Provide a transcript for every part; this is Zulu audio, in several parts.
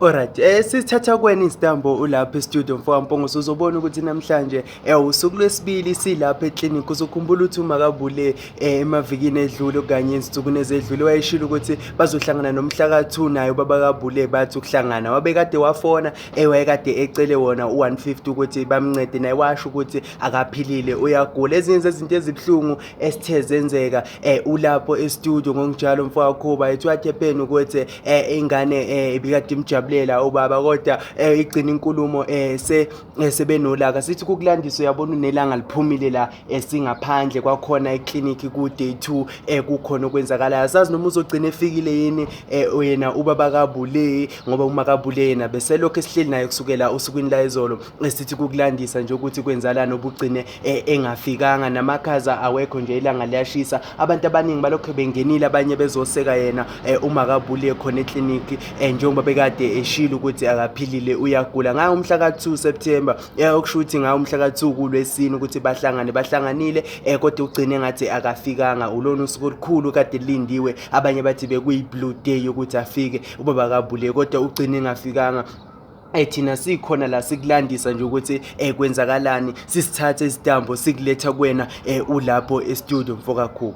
Alright, eh sithatha kweni isitambo ulapha e-studio mfoka Mpongose uzobona ukuthi namhlanje eh usuku lwesibili silapha e-clinic uzokhumbula ukuthi uma kabule eh, emavikini edlule kanye ezinsukwini ezedlule wayeshilo ukuthi bazohlangana nomhla ka-2 naye ubaba kabule bathi ukuhlangana wabekade wafona eh wayekade ecele wona u-150 ukuthi bamncede naye washo ukuthi akaphilile uyagula ezinye zezinto ezibuhlungu esithe zenzeka eh ulapho estudio ngokunjalo mfowakhuba ethiwa thepeni ukuthi eh ingane eh ibikade imjabulela ubaba kodwa eh igcina inkulumo eh se eh, sebenolaka sithi kukulandisa uyabona unelanga liphumile la esingaphandle eh, kwakhona eclinic ku day 2 eh kukhona okwenzakalayo asazi noma uzogcina efikile yini eh yena ubaba kabule ngoba uma kabule yena beselokho esihleli naye kusukela usukwini la izolo esithi kukulandisa nje ukuthi kwenzalana obugcine e, engafikanga namakhaza awekho nje ilanga liyashisa abantu abaningi balokhu bengenile abanye bezoseka yena e, uma kabuliye khona ekliniki e, njengoba bekade eshilo ukuthi akaphilile uyagula ngayo umhla ka-2 september okusho ukuthi ngayo umhla ka-2 kulwesini ukuthi bahlangane bahlanganile um kodwa ugcine ngathi akafikanga ulona usuku olukhulu kade lindiwe abanye bathi bekuyi-blue day yokuthi afike ubaba kabuliye kodwa ugcine engafikanga Eh thina sikhona la sikulandisa nje ukuthi eh kwenzakalani sisithathe isitambo sikuletha kuwena eh ulapho e studio mfokakhulu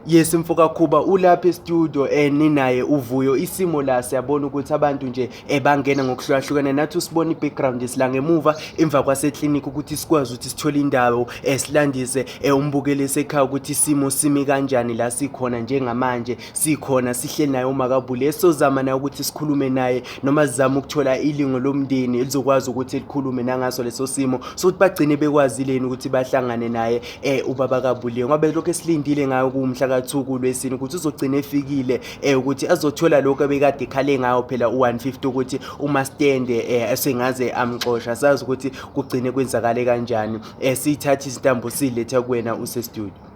Yes mfoka Khuba ulapha e-studio eh ninaye uvuyo isimo la siyabona ukuthi abantu nje ebangena eh, ngokuhlukahlukana nathi usibona i-background isila ngemuva emva kwase-clinic ukuthi sikwazi ukuthi sithole indawo esilandise eh, eh, umbukeli esekhaya ukuthi isimo simi kanjani la sikhona njengamanje sikhona sihle naye umakabule esizozama naye ukuthi sikhulume naye noma sizama ukuthola ilingo lomndeni elizokwazi ukuthi likhulume nangaso leso simo sokuthi bagcine bekwazileni ukuthi bahlangane naye eh ubaba kabule ngoba lokho esilindile ngayo kumhla kathuku lwesini ukuthi uzogcina efikile eh ukuthi azothola lokho ebekade khale ngayo phela u150 ukuthi uma stand eh esengaze amxosha sazi ukuthi kugcine kwenzakale kanjani eh sithatha izintambo silethe kuwena use studio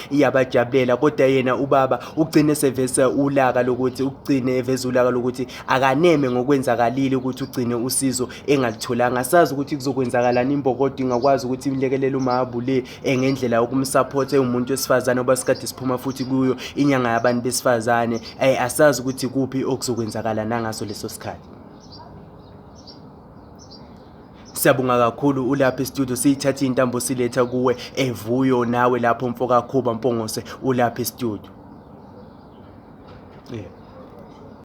iyabajabulela kodwa yena ubaba ugcine sevese ulaka lokuthi ugcine eveza ulaka lokuthi akaneme ngokwenzakalile ukuthi ugcine usizo engalitholanga sazi ukuthi kuzokwenzakalani imbokodo ingakwazi ukuthi imlekelele umahabu le engendlela yokumsapotha ewumuntu wesifazane oba sikade siphuma futhi kuyo inyanga yabantu besifazane um asazi ukuthi kuphi okuzokwenzakala nangaso leso sikhathi Siyabonga kakhulu ulapha estudio siyithatha intambo siletha kuwe evuyo nawe lapho mfoka Khuba Mpongose ulapha estudio. Yeah.